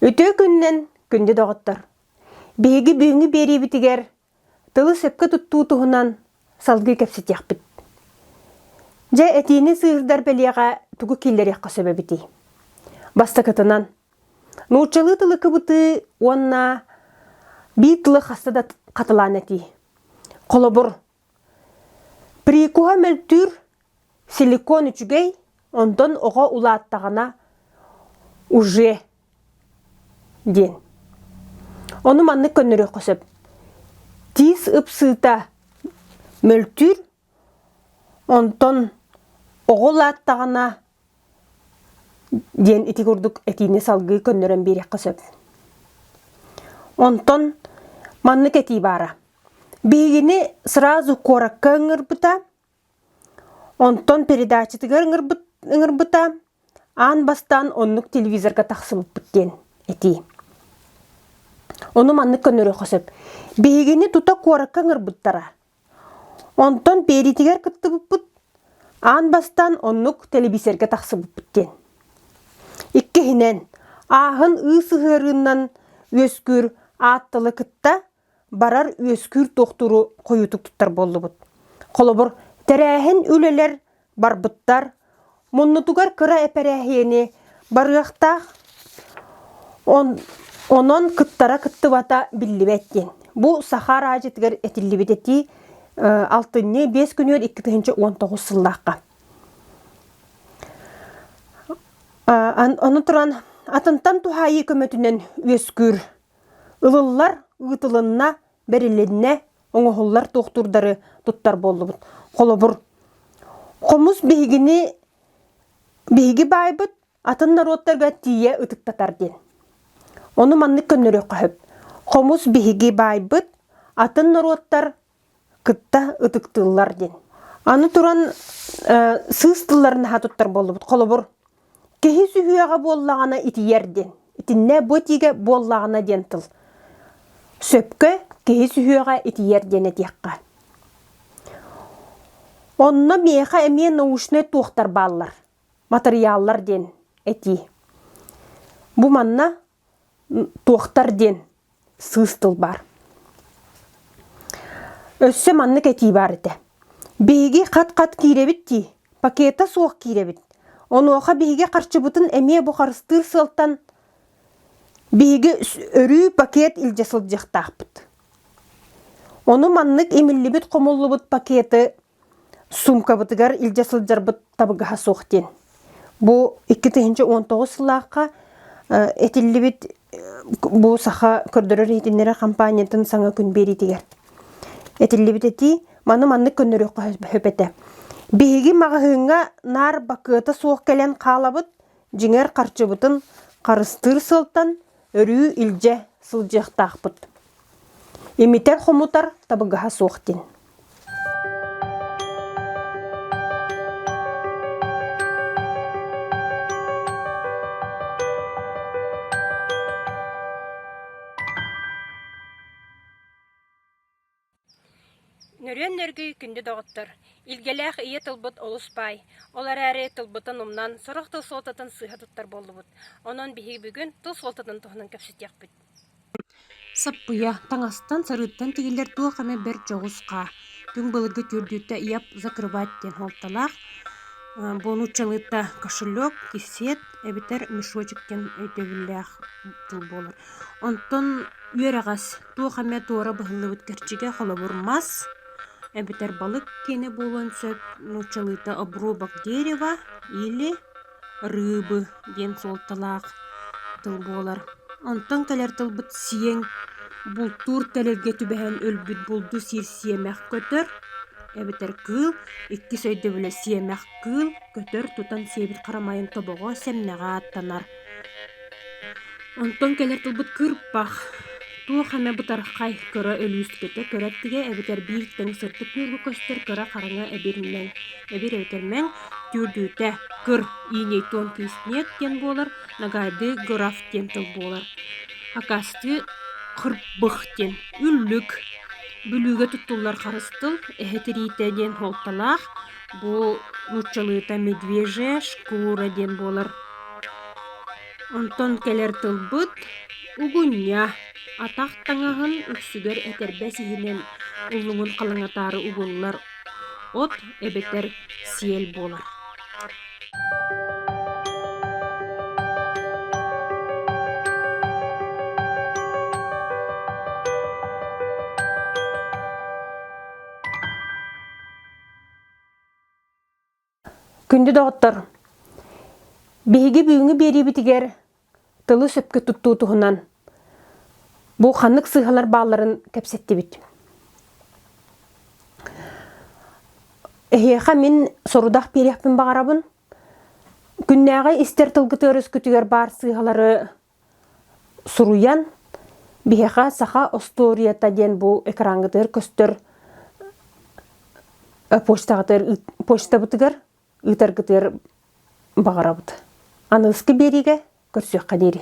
Үтүө күннэн, күндү доҕоттор! Биһиги бүгүҥҥү биэриибитигэр Тылы сөпкө туттуу туһунан салгыы кэпсэтиэхпит. Дьэ, этиини сыыһырдар бэлиэҕэ тугу киллэриэххэ сөп эбитий? Бастакытынан, нууччалыы тылы кыбытыы уонна биир тылы хаста да хатылаан этии. Холобур, прикуһа мөлтүүр, силикон үчүгэй, онтон оҕо улааттаҕына уже диэн. Ону маннык көннөрүөххэ сөп. Тиис ыпсыыта мөлтүүр, онтон оҕо улааттаҕына диэн ити курдук этиини салгыы көннөрөн биэриэххэ сөп. Онтон маннык этии баара. Биһигини сразу куоракка ыҥырбыта, Онтон передачатыгар ыҥырбыта аан бастаан оннук телевизорга тахсыбыппыт диэн этии. Ону маннык көнөрүөххэ сөп. Биһигини тута куоракка ыҥырбыттара. Онтон Пиэритигэр кыттыбыппыт аан бастаан оннук телевизорга тахсыбыппыт диэн. Иккиһинэн, ааһын ыы сыһыарыынан үөскүүр ааттылы кытта барар үөскүүр туохтууру хойуутук туттар буоллубут. Холобур, тэрээһин үлэлэр барбыттар, муннутугар кыра эпэрээһиэни барыахтаах, онон кыттара кыттыбата биллибэт диэн. Бу саха араадьытыгар этиллибит этии алтынньы биэс күнүгэр икки тыһыынча уон тоҕус сыллаахха. Аны туран атынтан туһаайыы көмөтүнэн үөскүүр Ылыллар, ыытылынна, бэрилиннэ, оҥоһуллар туохтуурдары туттар буоллубут. Холобур, хомус биһигини биһиги баайбыт атын норуоттарга тиийэ ытыктатар диэн. Ону маннык көннөрүөххэ сөп. Хомус биһиги баайбыт атын норуоттар кытта ытыктыыллар диэн. Аны туран сыыс тылларын наһаа туттар буоллубут. Холобур, киһи сүһүөҕэ буоллаҕына итийэр диэн. Итиннэ бу этиигэ буоллаҕына диэн тыл. Сөпкө киһи сүһүөҕэ итийэр диэн этиэххэ. Онно миэхэ эмиэ научнай туохтар бааллар, матырыйааллар диэн этии. Бу манна туохтар диэн сыыс тыл баар. Өссө маннык этии баар этэ. Биһиги хат-хат киирэбит дии, пакета суох киирэбит. Онуоха биһиги харчыбытын эмиэ бу харыстыыр сыалтан биһиги өрүү пакет илдьэ сылдьыахтаахпыт. Ону маннык имиллибит-хомуллубут пакеты Суумкабытыгар илдьэ сылдьарбыт табыгаһа суох диэн. Бу икки тыһыынча уон тоҕус сыллаахха этиллибит бу саха көрдөрөр-иһитиннэрэр хампаанньатын саҥа күн биэриитигэр этиллибит этии маны маннык көннөрүөххэ сөп этэ. Биһиги маҕаһыыҥҥа наар бакыата суох кэлэн хаалабыт, дьиҥэр харчыбытын харыстыыр сылтан өрүү илдьэ сылдьыахтаахпыт. Имитэр-хомутар табыгаһа суох дин. Нөрүөн Нөргүй күндү доҕоттор, илгэлээх ийэ тылбыт олус баай. Ол эрээри тылбытын умнан, сорох тыл суолтатын сыыһа туттар буоллубут. Онон биһиги бүгүн тыл суолтатын туһунан кэпсэтиэхпит. Саппыйа, таҥастан, сарыыттан тигиллэр туох эмэ бэрт дьоҕус хаа. Түҥ былыргы түөрдүүтэ «Яп, закрывать» диэн суолталаах бу нууччалыыта кошелек, кисиэт эбэтэр мешочек диэн өйдөбүллээх тыл буолар. Онтон үөрэҕэс туох эмэ туора быһыллыбыт кэрчигэ холобур мас эбэтэр балык киэнэ буолуон сөп нууччалыыта обрубок дерева или рыбы диэн суолталаах тыл буолар онтон кэлэр тылбыт сиэҥ бултуур тэлэргэ түбэһэн өлбүт булду сиир сиэмэх көтөр эбэтэр кыыл иккис өйдөбүлэ сиэмэх кыыл көтөр тутан сиэбит харамайын тобоҕо сэмнэҕэ ааттанар Онтон кэлэр тылбыт кырпах. Туох эмэ бытархай, көрө-өлүү ситэтэ, көрө өттүгэ эбэтэр бииртэн сырдык ньуурга көстөр кыра хараҥа эбир мэҥ. Эбир эбэтэр мэҥ түүрдүүтэ кыр иинэйтуон кыыс ниэт диэн буолар, нагайдыы граф диэн тыл буолар. Акастыы хырбых диэн үллүк. Бүлүүгэ туттуллар харыс тыл, эһэ тириитэ диэн суолталаах. Бу нууччалыыта медвежья шкура диэн буолар. Онтон кэлэр тылбыт угуння. Атах таҥаһын үксүгэр этэрбэс иһинэн уллуҥун халаҥатаары угуллар от эбэтэр сиэл буолар. Күндү доҕоттор, биһиги бүгүҥҥү биэриибитигэр тылы сөпкө туттуу туһунан бу ханнык сыыһалар баалларын кэпсэттибит. Эһиэхэ мин сорудах биэриэхпин баҕарабын. Күннээҕи истэр тылгытыгар өскүтүгэр баар сыыһалары Суруйан, биһиэхэ саха остуоруйата диэн бу экраҥҥытыгар көстөр почтаҕытыгар почтабытыгар ыытаргытыгар баҕарабыт. Аныгыскы биэриигэ көрсүөххэ диэри.